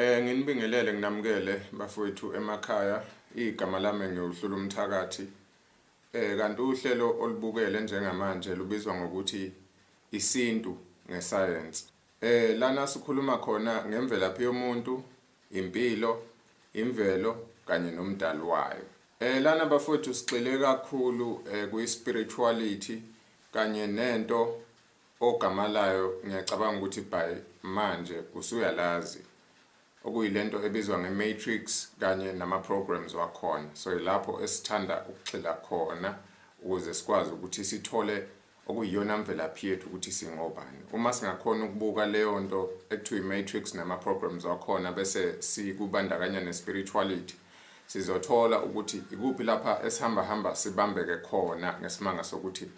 Eh nginibingelele nginamukele bafowethu emakhaya igama lami ngiwuhlula umthakathi. Eh kanti uhlelo olubukele njengamanje lubizwa ngokuthi isintu ngesayensi. Eh lana sikhuluma khona ngemvelaphi yomuntu, impilo, imvelo kanye nomdali wayo. Eh lana bafowethu sigxile kakhulu eh kuyi spirituality kanye nento O gama layo ngiyacabanga ukuthi by manje usuyalazi, okuyilento ebizwa nge matrix kanye nama programs wakhona, so yilapho esithanda ukugxila khona ukuze sikwazi ukuthi sithole okuyiyona mvelaphi yethu ukuthi singobani. Uma singakhona ukubuka leyo nto ekuthiwa i-matrix nama programs wakhona bese sikubandakanya ne spirituality sizothola ukuthi ikuphi lapha esihamba hamba sibambeke khona ngesimanga sokuthi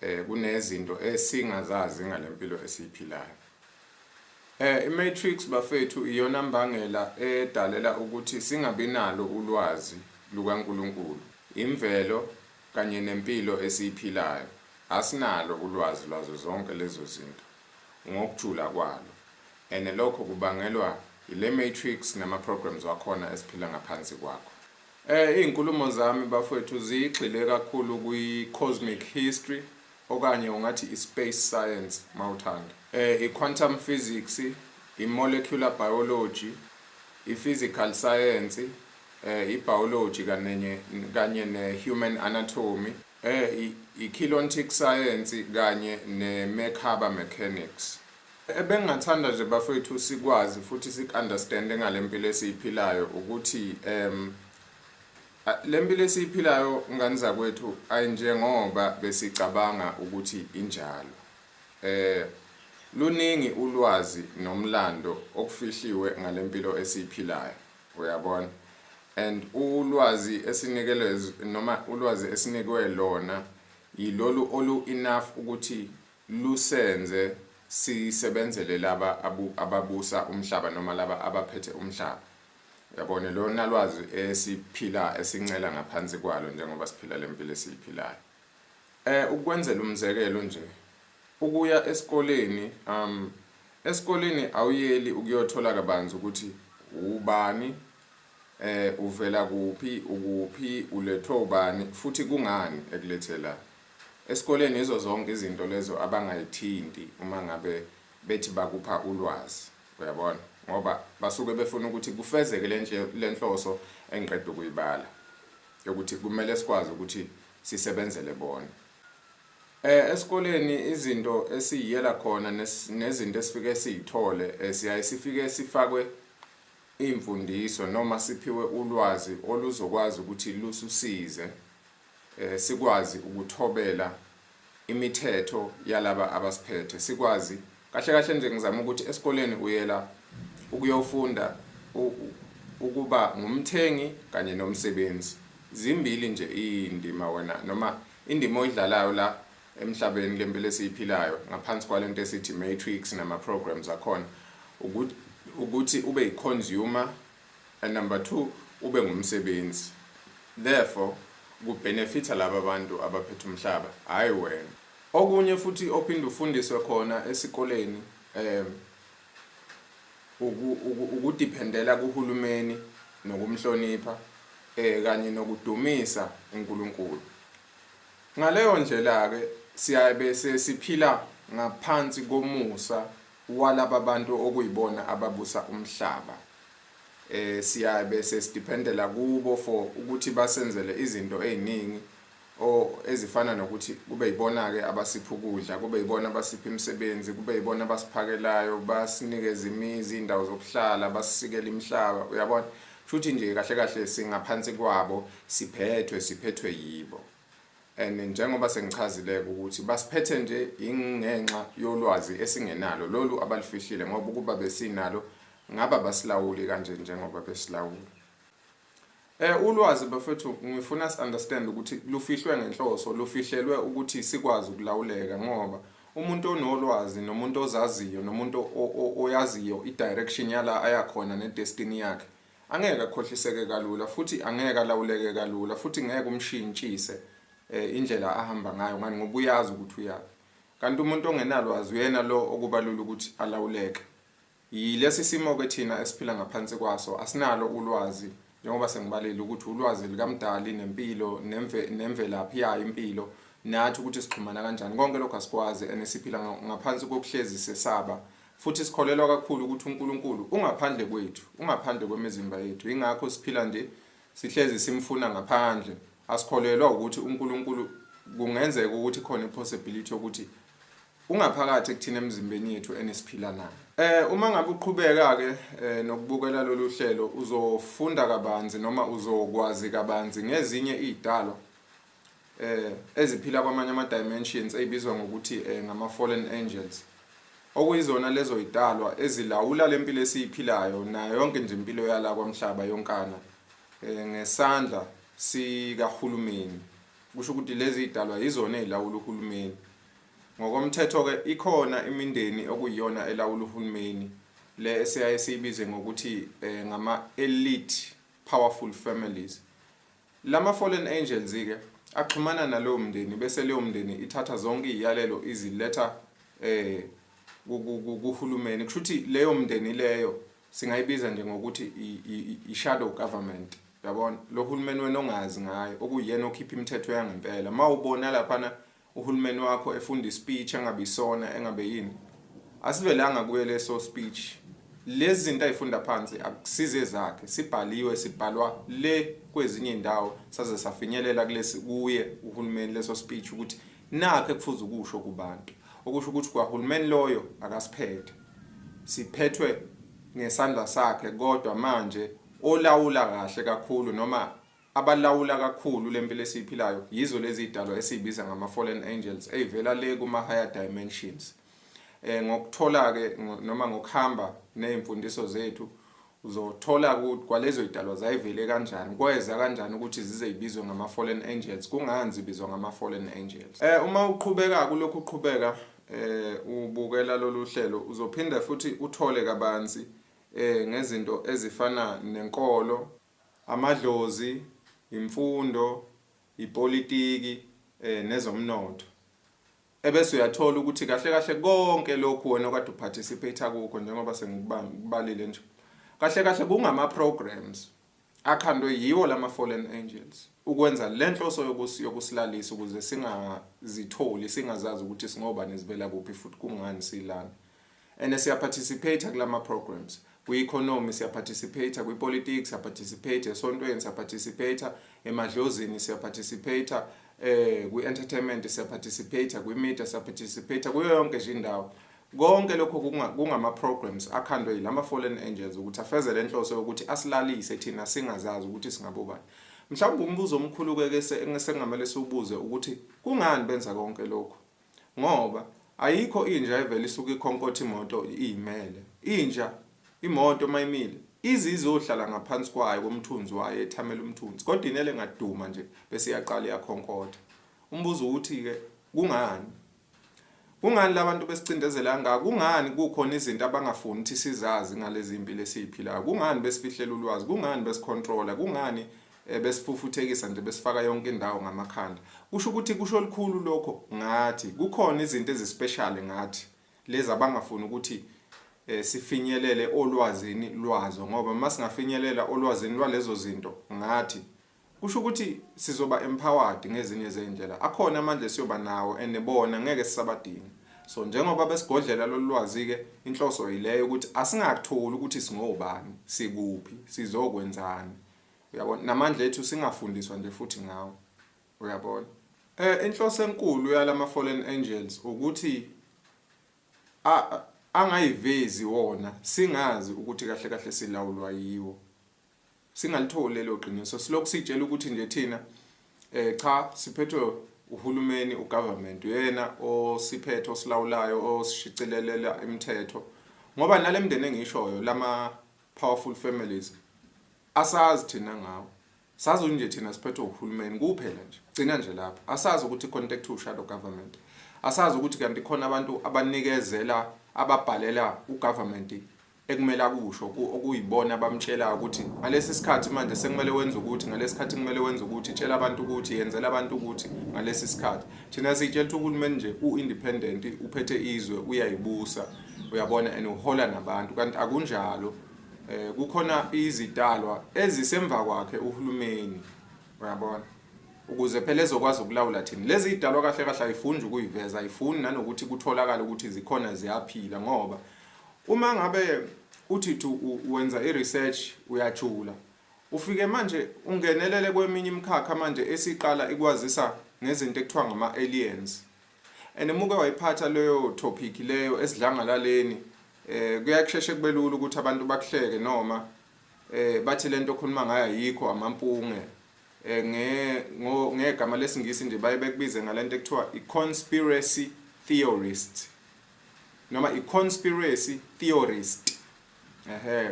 Eh kunezinto esingazazi ngalempilo esiyiphilayo. Eh iMatrix bafethu iyona mbangela edalela ukuthi singabinalo ulwazi lukaNkulunkulu, imvelo kanye nempilo esiyiphilayo. Asinalo ulwazi lwazo zonke lezo zinto ngokujula kwalo. And lokho kubangelwa ile Matrix nama programs wakhona esiphila ngaphansi kwakho. Eh izinkulumo zami bafowethu zigxile kakhulu kwi cosmic history okanye ungathi i space science mawuthanda. Eh i quantum physics, i molecular biology, i physical science, eh i biology kanenye kanye ne human anatomy, eh i kilontic science kanye ne mechaba mechanics. Ebengingathanda nje bafowethu sikwazi futhi sikunderstand ngalempilo esiyiphilayo ukuthi em lempilo esiyiphilayo ngani zakwethu ayinjengoba besicabanga ukuthi injalo. Eh luningi ulwazi nomlando okufihliwe ngalempilo esiyiphilayo. Uyabona? And ulwazi esinikelwe noma ulwazi esinikwe lona yilolu olu enough ukuthi lusenze sisebenzele laba ababusa umhlaba noma laba abaphethe umhlaba. Uyabona, lona lwazi esiphila esincela ngaphansi kwalo njengoba siphila le mpilo esiyiphilayo. Eh, ukwenzela umzekelo nje, ukuya esikoleni, um, esikoleni awuyeli ukuyothola kabanzi ukuthi ubani, eh, uvela kuphi, ukuphi, ulethwe ubani, futhi kungani ekulethela. Esikoleni yizo zonke izinto lezo abangayithinti uma ngabe bethi bakupha ulwazi. Uyabona? Ngoba basuke befuna ukuthi kufezeke le nhloso engiqeda ukuyibala yokuthi kumele sikwazi ukuthi sisebenzele bona. Eh esikoleni izinto esiyiyela khona nezinto esifike siyithole eh, siyaye sifike sifakwe imfundiso noma siphiwe ulwazi oluzokwazi ukuthi lususize eh, sikwazi ukuthobela imithetho yalaba abasiphethe sikwazi kahle kahle nje ngizama ukuthi esikoleni uyela ukuyofunda ukuba ngumthengi kanye nomsebenzi zimbili nje indima wena noma indima oyidlalayo la emhlabeni lempilo esiyiphilayo ngaphansi kwalento esithi matrix nama programs akhona ukuthi ube i consumer And number two ube ngumsebenzi therefore ku benefita laba bantu abaphethe umhlaba hayi wena. Okunye futhi ophinde ufundiswe khona esikoleni um ukudiphendela kuhulumeni nokumhlonipha eh kanye nokudumisa uNkulunkulu. Ngaleyo ndlela ke siyabe sesiphila ngaphansi komusa walaba bantu okuyibona ababusa umhlaba eh siyabe sesidependela kubo for ukuthi basenzele izinto eziningi o ezifana nokuthi kube yibona ke abasipha ukudla kube yibona abasipha imisebenzi kube yibona abasiphakelayo basinikeza imizi indawo zokuhlala basisikela imihlaba uyabona shuthi nje kahle kahle singaphansi kwabo siphethwe siphethwe yibo and njengoba sengichazileke ukuthi basiphethe nje ingenxa yolwazi esingenalo lolu abalifihlile ngoba ukuba besinalo ngaba basilawuli kanje njengoba besilawula Eh ulwazi bafethu ngifuna si understand ukuthi lufihlwe ngenhloso lufihlelwe ukuthi sikwazi ukulawuleka ngoba umuntu onolwazi nomuntu ozaziyo nomuntu oyaziyo i direction yala ayakhona ne destiny yakhe Angeke akhohliseke kalula futhi angeke alawuleke kalula futhi ngeke umshintshise eh, indlela ahamba ngayo ngani ngoba uyazi ukuthi uyaphi. Kanti umuntu ongenalwazi uyena lo okubalula ukuthi alawuleke. Yilesi simo-ke thina esiphila ngaphansi kwaso asinalo ulwazi njengoba sengibalile ukuthi ulwazi likamdali nempilo nemve, nemvelaphi yayo impilo nathi ukuthi sixhumana kanjani konke lokho asikwazi and siphila ngaphansi kokuhlezi sesaba Futhi sikholelwa kakhulu ukuthi uNkulunkulu ungaphandle kwethu, ungaphandle kwemizimba yethu. Yingakho siphila nje sihlezi simfuna ngaphandle. Asikholelwa ukuthi uNkulunkulu kungenzeka ukuthi khona ipossibility yokuthi ungaphakathi kuthina emzimbeni yethu enesiphila nayo. Eh uma ngabe uqhubeka ke eh, nokubukela lolu hlelo uzofunda kabanzi noma uzokwazi kabanzi ngezinye izidalwa eh eziphila kwamanye ama dimensions ezibizwa ngokuthi eh, ngama fallen angels okuyizona lezo idalwa ezilawula lempilo esiyiphilayo nayo yonke nje impilo yala kwamhlaba yonkana eh, ngesandla sikahulumeni kusho ukuthi lezi idalwa yizona ezilawula uhulumeni ngokomthetho ke ikhona imindeni okuyiyona elawula uhulumeni le esiyaye siyibize ngokuthi eh, ngama elite powerful families Lama fallen angels ke axhumana nalowo mndeni bese leyo mndeni ithatha zonke iziyalelo iziletha eh kuhulumeni kusho ukuthi leyo mndeni leyo singayibiza nje ngokuthi i-shadow government yabona lo hulumeni wena ongazi ngayo okuyena okhipha imithetho yangempela uma ubona laphana uhulumeni wakho efunda ispeech engabisona engabe yini asivelanga kuye leso speech lezi zinto ayifunda phansi akusize ezakhe sibhaliwe sibhalwa le kwezinye indawo saze safinyelela kulesi kuye uhulumeni leso speech ukuthi nakhe kufuze ukusho kubantu okusho ukuthi kwahulumeni loyo akasiphethe siphethwe ngesandla sakhe kodwa manje olawula kahle kakhulu noma Abalawula kakhulu le mpilo esiyiphilayo yizo lezi zidalwa esiyibiza ngama-fallen angels ey'vela le kuma-higher dimensions. Eh, ngokuthola-ke noma ngokuhamba ney'mfundiso zethu uzothola ukuthi kwalezo y'dalwa zayivele kanjani kweza kanjani ukuthi zize y'bizwe ngama-fallen angels kungani zibizwa ngama-fallen angels um uma uqhubeka kulokhu uqhubeka um ubukela lolu hlelo uzophinde futhi uthole kabanzi um ngezinto ezifana nenkolo amadlozi, imfundo, ipolitiki nezomnotho. Ebese uyathola ukuthi kahle kahle konke lokhu wena okade uparticipate kukho njengoba sengikubalile nje. Kahle kahle kungama programs akhandwe yiwo lama fallen angels ukwenza lenhloso yokusi yokusilalisa ukuze singazitholi singazazi ukuthi singobani sivela kuphi futhi kungani silana. and siya participate kulama programs kwi economy siya participate kwi politics siya participate esontweni siya participate emadlozini siya participate eh kwi entertainment siya participate kwi media siya participate kuyo yonke nje indawo konke lokho kungama programs akhandwe yilama fallen angels ukuthi afeze lenhloso yokuthi asilalise thina singazazi ukuthi singabobani mhlawumbe umbuzo omkhulu ke ke sengamele siwubuze ukuthi kungani benza konke lokho Ngoba ayikho inja evele isuke ikhonkotha imoto iyimele. Inja, imoto uma imile, ize izohlala ngaphansi kwayo komthunzi wayo ethamela umthunzi kodwa inele ngaduma nje bese iyaqala iyakhonkotha. Umbuzo uwuthi-ke kungani? Kungani labantu besicindezela kangaka? Kungani kukhona izinto abangafuni ukuthi sizazi ngalezi mpilo esiyiphilayo? Kungani besifihlela ulwazi? Kungani besicontrola? Kungani eh, besifufuthekisa nje besifaka yonke indawo ngamakhanda kusho ukuthi kusho likhulu lokho ngathi kukhona izinto ezispecial ngathi lezi abangafuni ukuthi eh, sifinyelele olwazini lwazo ngoba uma singafinyelela olwazini lwalezo zinto ngathi kusho ukuthi sizoba empowered ngezinye zeindlela akhona amandla siyoba nawo enebona ngeke sisabadinga so njengoba besigodlela lolwazi ke inhloso yileyo ukuthi asingakutholi ukuthi singobani sikuphi sizokwenzani uyabona namandla ethu singafundiswa nje futhi ngawo uyabona eh inhloso enkulu yalama fallen angels ukuthi angayivezi wona singazi ukuthi kahle kahle silawulwa yiwo singalitholi lelo qiniso silokhu sitshela ukuthi nje thina eh cha siphethwe uhulumeni ugovernment uyena osiphethe osilawulayo osishicilelela imithetho ngoba nalemndeni engishoyo lama powerful families asazi thina ngawo sazi nje thina siphethwe uhulumeni kuphela nje gcina nje lapho asazi ukuthi contact u shadow government asazi ukuthi kanti khona abantu abanikezela ababhalela ugovernment ekumele akusho okuyibona abamtshela ukuthi ngalesi sikhathi manje sekumele wenze ukuthi ngalesi sikhathi kumele wenze ukuthi tshela abantu ukuthi yenzela abantu ukuthi ngalesi sikhathi thina sitshela ukuthi uhulumeni nje u-independent uphethe izwe uyayibusa uyabona and uhola nabantu kanti akunjalo eh kukhona izidalwa ezisemva kwakhe uhulumeni uyabona ukuze phela ezokwazi ukulawula thina lezi idalwa kahle kahle ayifuni ukuyiveza ayifuni nanokuthi kutholakala ukuthi zikhona ziyaphila ngoba uma ngabe uthi thu wenza i-research uyajula ufike manje ungenelele kweminye imikhakha manje esiqala ikwazisa ngezinto ekuthiwa ngama-aliens and muke wayiphatha leyo topic leyo esidlangalaleni eh kuyakusheshe kubelula ukuthi abantu bakuhleke noma eh bathi lento okhuluma ngayo ayikho amampunge eh nge ngegama lesingisi nje baye bekubize ngalento ekuthiwa i-conspiracy theorist noma i-conspiracy theorist ehe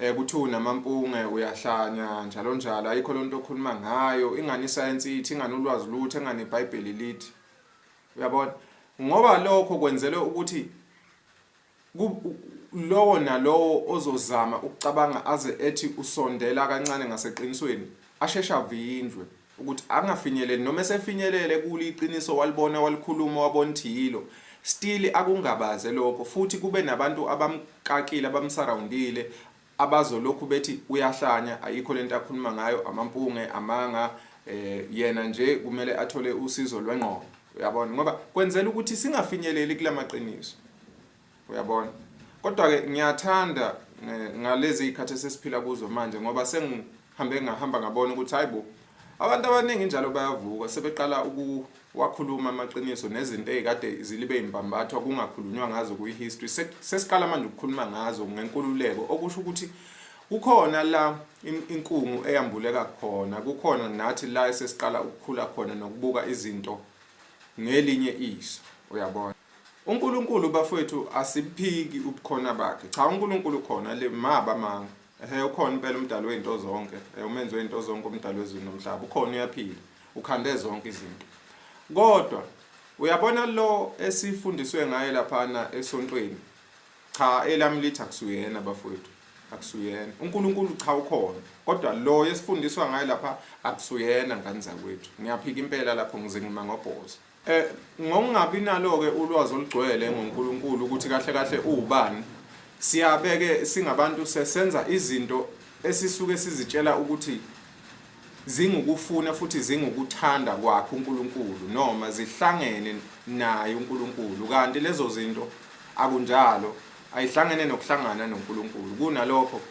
eh kuthiwa namampunge uyahlanya njalo njalo ayikho lonto okhuluma ngayo ingani isayensi ithi ingani ulwazi lutho engani iBhayibheli lithi uyabona ngoba lokho kwenzelwe ukuthi lowo nalowo ozozama ukucabanga aze ethi usondela kancane ngaseqinisweni asheshe avindlwe ukuthi angafinyeleli noma esefinyelele kulo iqiniso walibona walikhuluma wabona ukuthi yilo still akungabaze lokho futhi kube nabantu abamkakile abamsurroundile abazolokhu bethi uyahlanya ayikho lento akhuluma ngayo amampunge amanga eh yena nje kumele athole usizo lwengqondo uyabona ngoba kwenzela ukuthi singafinyeleli kulamaqiniso uyabona kodwa ke ngiyathanda eh, ngalezi izikhathi esesiphila kuzo manje ngoba sengihambe ngahamba ngabona ukuthi hayibo abantu abaningi njalo bayavuka sebeqala ukuwakhuluma amaqiniso nezinto ezikade zilibe imbambathwa kungakhulunywa ngazo kuyi history sesiqala manje ukukhuluma ngazo ngenkululeko okusho ukuthi kukhona la inkungu eyambuleka khona kukhona nathi la esesiqala ukukhula khona nokubuka izinto ngelinye iso uyabona UNkulunkulu bafowethu asiphiki ubukhona bakhe. Cha uNkulunkulu khona le maba manga. Ehe ukhona impela umdali wezinto zonke. Eh umenzi wezinto zonke umdali wezulu nomhlaba. Ukhona uyaphila. Ukhande zonke izinto. Kodwa uyabona lo esifundiswe ngaye laphana esontweni. Cha elami lithi akusuyena bafowethu. Akusuyena. UNkulunkulu cha ukhona. Kodwa lo esifundiswa ngaye lapha akusuyena ngani zakwethu. Ngiyaphika impela lapho ngize ngima ngobhozo. Eh ngokungabi nalo ke ulwazi olugcwele ngoNkulunkulu ukuthi kahle kahle uwubani siyabeke singabantu sesenza izinto esisuke sizitshela ukuthi zingukufuna futhi zingukuthanda kwakhe uNkulunkulu noma zihlangene naye uNkulunkulu kanti lezo zinto akunjalo ayihlangene nokuhlangana noNkulunkulu kunalokho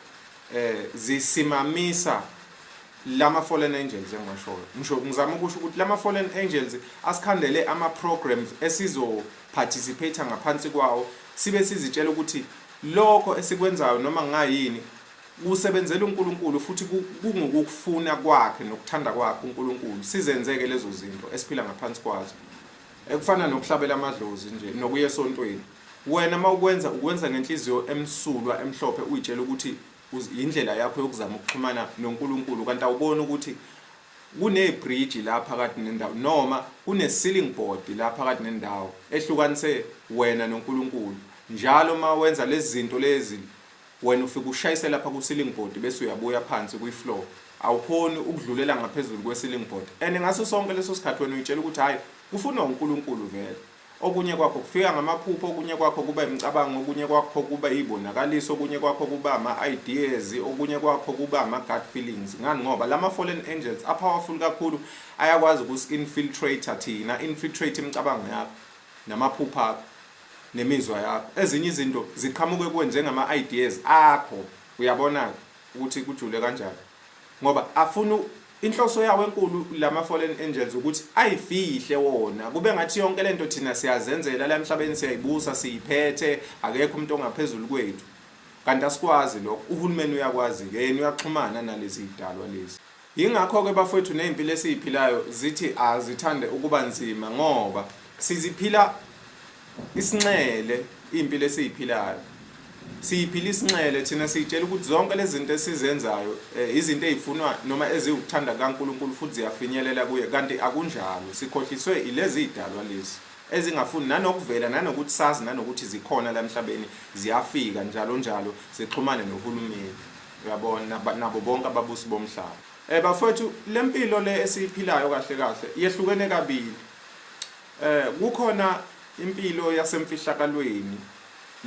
eh zisimamisa lama fallen angels engiwashoyo ngisho ngizama ukusho ukuthi lama fallen angels asikhandele ama programs esizo participate ngaphansi kwawo sibe sizitshela ukuthi lokho esikwenzayo noma ngayini kusebenzela uNkulunkulu futhi kungukufuna kwakhe nokuthanda kwakhe uNkulunkulu sizenzeke lezo zinto esiphila ngaphansi kwazo ekufana nokuhlabela amadlozi nje nokuya esontweni wena mawukwenza ukwenza ngenhliziyo emsulwa emhlophe uyitshela ukuthi yindlela yakho yokuzama ukuxhumana noNkulunkulu kanti awuboni ukuthi kunebridge la phakathi nendawo noma kune-ceiling board la phakathi nendawo ehlukanise wena noNkulunkulu njalo uma wenza lezi zinto lezi wena ufike ushayise lapha ku-ceiling board bese uyabuya phansi kwi-floor awukhoni ukudlulela ngaphezulu kwe-ceiling board and ngaso sonke leso sikhathi wena uyitshela ukuthi hhayi kufunwa uNkulunkulu vele Okunye kwakho kufika ngamaphupho, okunye kwakho kuba imicabango, okunye kwakho kuba iy'bonakaliso, okunye kwakho kuba ama-ideas, okunye kwakho kuba ama-gut feelings. Ngani? Ngoba lama-fallen angels a-powerful kakhulu, ayakwazi ukusi-infiltrate-a thina, a-infiltrate imicabango yakho, namaphupho akho, nemizwa yakho. Ezinye izinto ziqhamuke kuwe njengama-ideas akho, uyabona-ke ukuthi kujule kanjani. ngoba afuna inhloso yawo enkulu lama fallen angels ukuthi ayifihle wona kube ngathi yonke lento thina siyazenzela la emhlabeni siyayibusa siyiphethe akekho umuntu ongaphezulu kwethu kanti asikwazi lokho uhulumeni uyakwazi ke yena uyaxhumana nalezi idalwa lezi yingakho ke bafowethu nezimpilo esiziphilayo zithi azithande ukuba nzima ngoba siziphila Isinxele impilo esiyiphilayo. Siyiphila isinxele thina siyitshela ukuthi zonke lezi zinto esizenzayo eh, izinto ezifunwa noma eziwukuthanda kaNkulunkulu futhi ziyafinyelela kuye kanti akunjalo. Sikhohliswe ilezi zidalwa lezi ezingafuni nanokuvela nanokuthi sazi nanokuthi zikhona la emhlabeni ziyafika njalo njalo sixhumane nohulumeni uyabona nabo bonke ababusi bomhlaba eh bafethu lempilo le esiyiphilayo kahle kahle yehlukene kabili Eh kukhona impilo yasemfihlakalweni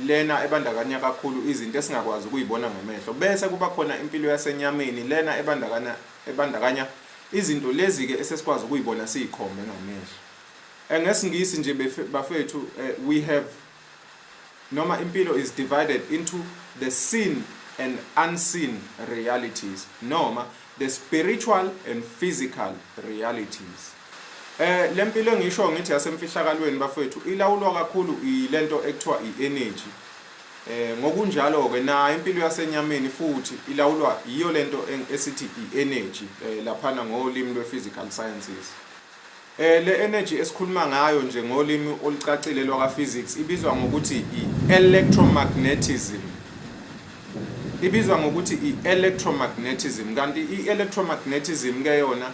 lena ebandakanya kakhulu izinto esingakwazi ukuyibona ngamehlo bese kuba khona impilo yasenyameni lena ebandakanya ebandakanya izinto lezi ke esesikwazi ukuyibona siyikhombe ngamehlo eh, ngesingisi nje bafethu eh, we have noma impilo is divided into the seen and unseen realities noma the spiritual and physical realities Eh lempilo engisho ngithi yasemfihlakalweni bafethu ilawulwa kakhulu ilento ekuthiwa i-energy. Eh ngokunjalo ke nayo impilo yasenyameni futhi ilawulwa yiyo lento esithi i-energy eh, laphana ngolimi lwe-physical sciences. Eh le energy esikhuluma ngayo nje ngolimi olucacile lwaka physics ibizwa ngokuthi i-electromagnetism. Ibizwa ngokuthi i-electromagnetism kanti i-electromagnetism ke yona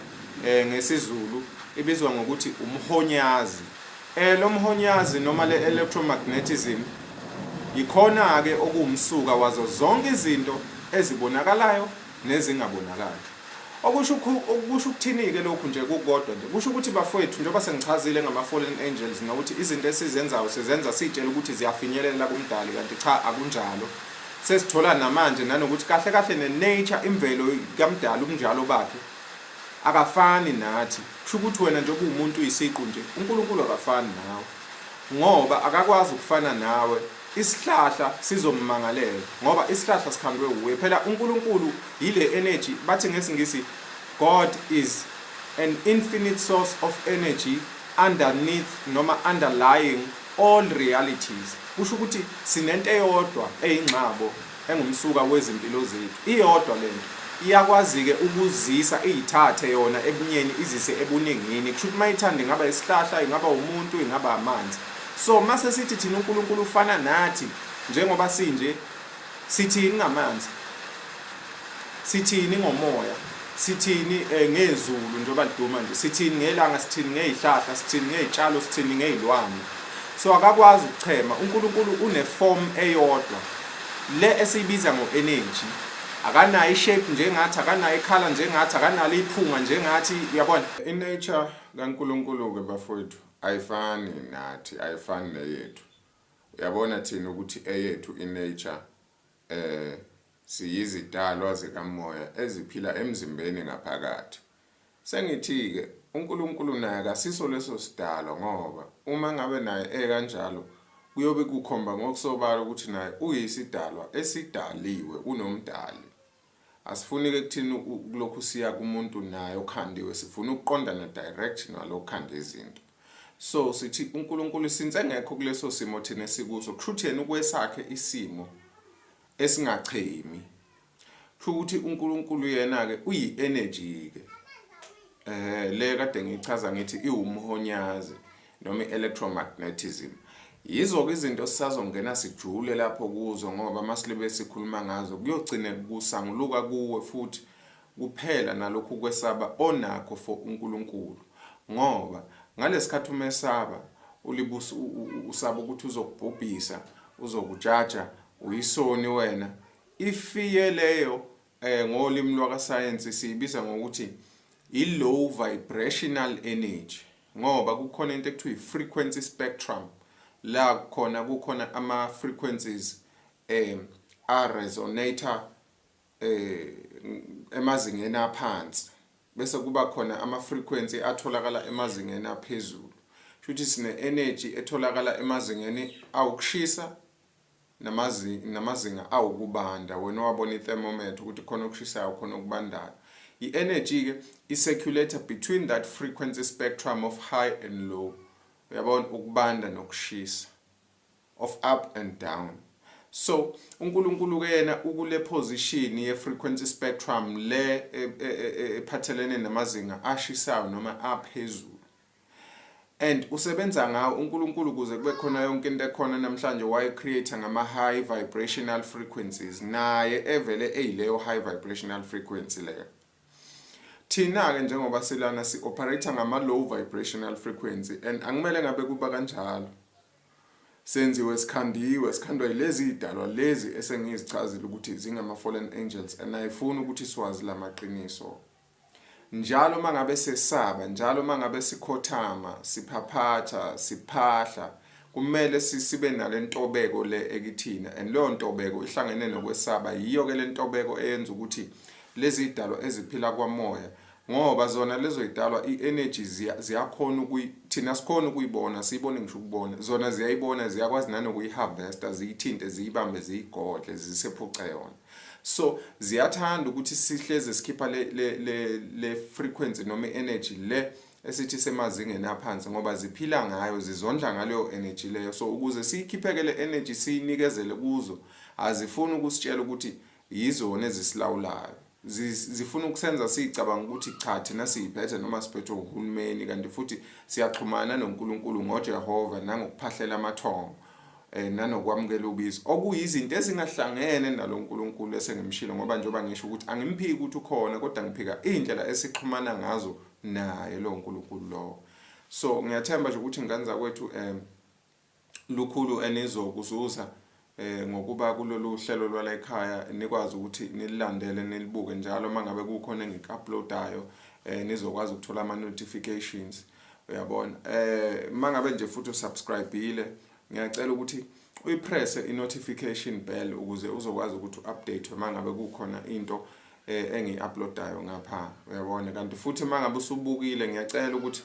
eh ngesiZulu ibizwa ngokuthi umhonyazi eh lo mhonyazi noma le electromagnetism yikhona ke okuwumsuka wazo zonke izinto ezibonakalayo nezingabonakali okusho okusho ukuthini ke lokhu nje kukodwa nje kusho ukuthi bafowethu njengoba sengichazile ngama fallen angels nokuthi izinto esizenzayo sizenza sitshela ukuthi ziyafinyelela kumdali kanti cha akunjalo sesithola namanje nanokuthi kahle kahle ne nature imvelo kamdali umnjalo bakhe Akafani nathi. Kusho ukuthi wena njengoba uwumuntu uyisiqu nje, uNkulunkulu akafani nawe. Ngoba akakwazi ukufana nawe, isihlahla sizommangalela ngoba isihlahla sikhandwe wuye. Phela uNkulunkulu yile energy, bathi ngesiNgisi God is an infinite source of energy underneath noma underlying all realities. Kusho ukuthi sinento eyodwa eyingxabo engumsuka wezimpilo zethu iyodwa lento iyakwazike ukuzisa iyithathe yona ebunyeni izise ebuningini kusho ukuthi mayithanda ingaba isihlahla ingaba umuntu ingaba amanzi so mase sithi thina uNkulunkulu ufana nathi njengoba sinje sithi ingamanzi Sithini ngomoya? Sithini eh, ngezulu njengoba liduma nje? Sithini ngelanga? Sithini ngezihlahla? Sithini ngezitshalo? Sithini ngezilwane? So akakwazi ukuchema. UNkulunkulu une form eyodwa le esiyibiza ngo-energy akanayo ishape njengathi akanayo ikhala njengathi akanalo iphunga njengathi uyabona inature kaNkulunkulu-ke bafowethu ayifani nathi ayifani neyethu uyabona thina ukuthi eyethu inature eh Siyizidalwa zikamoya eziphila emzimbeni ngaphakathi. Sengithi-ke, uNkulunkulu naye akasiso leso sidalwa ngoba uma ngabe naye ekanjalo, kuyobe kukhomba ngokusobala ukuthi naye uyisidalwa esidaliwe, unoMdali. Asifuni-ke kuthina ukulokhu siya kumuntu naye okhandiwe, sifuna ukuqondana direct nalo okhanda izinto. So, sithi uNkulunkulu since engekho kuleso simo thina esikuso, kusho ukuthi yena ukwesakhe isimo, esingachemi kusho ukuthi uNkulunkulu yena ke uyi energy ke eh le kade ngichaza ngithi iwumhonyazi noma electromagnetism yizo ke izinto sisazongena sijule lapho kuzo ngoba masibe sikhuluma ngazo kuyogcine kusanguluka kuwe futhi kuphela nalokhu kwesaba onakho for uNkulunkulu ngoba ngalesikhathi umesaba ulibusa usaba ukuthi uzokubhubhisa uzokujaja uyisoni wena ifiye leyo eh ngolimi lwakasayensi siyibiza ngokuthi i-low vibrational energy ngoba kukhona into ekuthiwa i-frequency spectrum la khona kukhona ama-frequencies um a-resonator eh emazingeni aphansi bese kuba khona ama frequency atholakala emazingeni aphezulu shuthi sine energy etholakala emazingeni awukushisa namazinga namazinga awukubanda wena wabona i thermometer ukuthi khona okushisayo khona okubandayo i energy ke i circulator between that frequency spectrum of high and low uyabona ukubanda nokushisa of up and down so uNkulunkulu ke yena ukule position ye frequency spectrum le e, e, e, ephathelene namazinga ashisayo noma aphezulu and usebenza ngawo uNkulunkulu kuze kube khona yonke into ekhona namhlanje waye create ngama high vibrational frequencies naye evele eyileyo high vibrational frequency leyo thina ke njengoba silana si operate ngama low vibrational frequency and angimele ngabe kuba kanjalo Senziwe sikhandiwe, sikhandwa yilezi idalwa lezi esengizichazile ukuthi zingama fallen angels and ayifuni ukuthi siwazi lamaqiniso. Njalo mangabe sesaba, njalo mangabe sikhothama, siphaphatha, siphahla, kumele sisibe nalentobeko le ekithina and leyo ntobeko ihlangene nokwesaba. Yiyo ke lentobeko eyenza ukuthi lezi idalwa eziphila kwamoya Ngoba zona lezo yidalwa i energy ziya ziyakhona ukuyi thina sikhona ukuyibona siyibone ngisho ukubona zona ziyayibona ziyakwazi nanokuyi harvester ziyithinte ziyibambe ziyigodle zisephuce yona so ziyathanda ukuthi sihleze sikhipha le le le, le frequency noma energy le esithi semazingeni aphansi ngoba ziphila ngayo zizondla ngaleyo energy leyo so ukuze siyikhipheke le energy siyinikezele kuzo azifuni ukusitshela ukuthi yizona ezisilawulayo zifuna ukusenza sicabanga ukuthi cha thina siyiphethe noma siphethwe uhulumeni kanti futhi siyaxhumana noNkulunkulu ngoJehova nangokuphahlela amathongo eh nanokwamukela ubizo okuyizinto ezingahlangene nalo Nkulunkulu esengimshilo ngoba njengoba ngisho ukuthi angimphiki ukuthi ukhona kodwa ngiphika indlela esixhumana ngazo naye lo Nkulunkulu lo so ngiyathemba nje ukuthi ingane zakwethu em eh, lukhulu enizokuzuza eh ngokuba kulolu hlelo lwala ekhaya nikwazi ukuthi nililandele nilibuke njalo mangabe kukhona engikuuploadayo eh nizokwazi ukuthola ama notifications uyabona eh mangabe nje futhi usubscribeile ngiyacela ukuthi uyipress i notification bell ukuze uzokwazi ukuthi uupdate mangabe kukhona into eh engiuploadayo ngapha uyabona kanti futhi mangabe usubukile ngiyacela ukuthi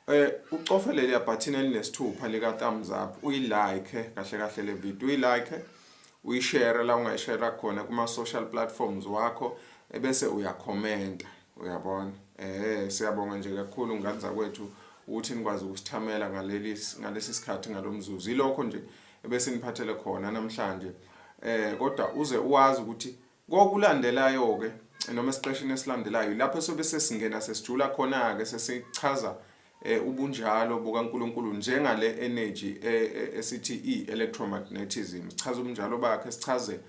Eh ucofe leliya button elinesithupha lika thumbs up uyilike kahle kahle le video uyilike uyishare la ungayishare khona kuma social platforms wakho ebese uyakhomenta uyabona eh siyabonga nje kakhulu ngane zakwethu ukuthi nikwazi ukusithamela ngaleli ngalesi sikhathi ngalomzuzu ilokho nje ebese niphathele khona namhlanje eh kodwa uze uwazi ukuthi Kokulandelayo-ke noma esiqeshini esilandelayo lapho sobe sesingena sesijula khona-ke sesichaza eh, ubunjalo bukaNkulunkulu njengale energy eh, eh, esithi i-electromagnetism sichaza ubunjalo bakhe sichaze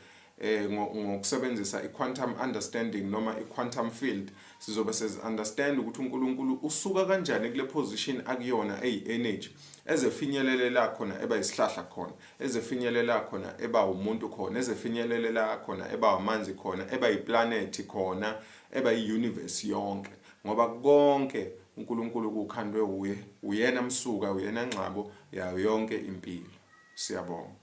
eh ngokusebenzisa iquantum understanding noma iquantum field sizobe sezi understand ukuthi uNkulunkulu usuka kanjani kule position akuyona eyi energy ezefinyelele la khona eba isihlahla khona ezefinyelela khona eba umuntu khona ezefinyelelela khona eba amanzi khona eba iplanethi khona eba iuniverse yonke ngoba konke uNkulunkulu kukhandwe uye uyena msuka uyena ngxabo yayo yonke impilo siyabonga